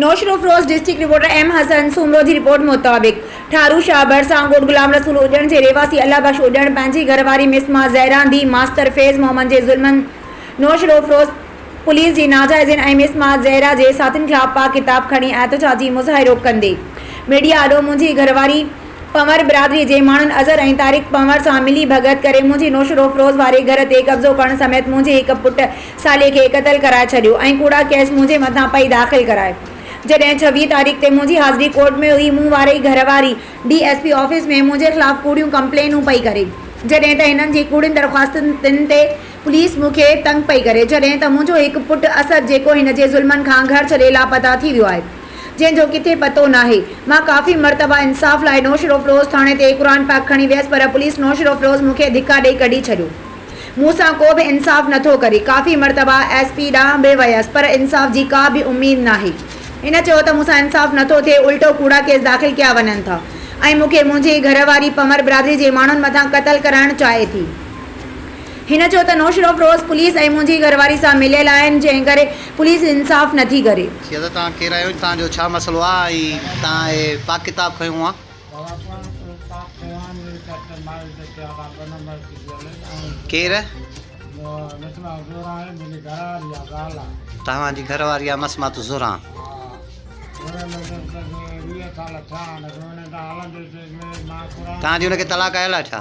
Naushahro Feroze district reporter M Hassan Soomro جي report مطابق ٺارو شاھ ڀرسان ڳوٺ غلام رسول اڄڻ جي رھواسي الله بخش اڄڻ پنھنجي گھر واري مس مان زھران ڌيء ماستر فيض محمد جي ظلمن نوشھروفروش پوليس جي ناجائزين ۽ مس مان زھرا جي ساٿين خلاف پاڪ ڪتاب کڻي احتجاجي مظاھرو ڪندي ميڊيا آڏو منھنجي گھر واري پنھور برادري جي ماڻھن اظھر ۽ طارق پنھور سان ملي ڀڳت ڪري منھنجي نوشھروفروش واري گھر تي قبضو ڪرڻ سميت منھنجي ھڪ پٽ سالي کي قتل ڪرائي ڇڏيو ۽ ڪوڙا ڪيس منهنجي مٿان پئي داخل ڪرائي. جڏهن ڇويهه تاريخ تي منهنجي حاضري ڪورٽ ۾ هئي، مون واري گهر واري ڊي ايس پي آفيس ۾ منهنجي خلاف ڪوڙيون ڪمپلينون پئي ڪري، جڏهن ته هنن جي ڪوڙين درخواستن تن تي پوليس مون کي تنگ پئي ڪري، جڏهن ته منهنجو هڪ پٽ اسد جيڪو هن جي ظلمن کان گهر ڇڏي لاپتا ٿي ويو آهي، جنهن جو ڪٿي پتو ناهي. مان ڪافي مرتبا انصاف لاء نوشهروفروز ٿاڻي تي قرآن پاڪ کڻي ويس پر پوليس نوشهروفروز مون کي ڌڪا ڏئي ڪڍي ڇڏيو. مون سان ڪو به انصاف نه ٿو ڪري، ڪافي مرتبا ايس پي ڏانهن به ويس پر انصاف جي ڪا به اميد ناهي. هن چيو ته مون سان انصاف نه ٿو ٿئي الٽو ڪوڙا ڪيس داخل ڪيا وڃن ٿا ۽ مون کي منهنجي گهر واري پمر برادري جي ماڻهن مٿان قتل ڪرائڻ چاهي ٿي. هن چيو ته نوشهروفروز پوليس ۽ منهنجي گهر واري سان مليل آهن جنهن ڪري پوليس انصاف نه ٿي ڪري. چيو ته توهان ڪير آهيو ۽ توهان جو ڇا مسئلو آهي ۽ توهان هي پاڪ ڪتاب کنيو آهي؟ ڪير؟ توهان جي گهر واري آ مسمات زهران. توهان جي ان کي طلاق آيل آ ڇا؟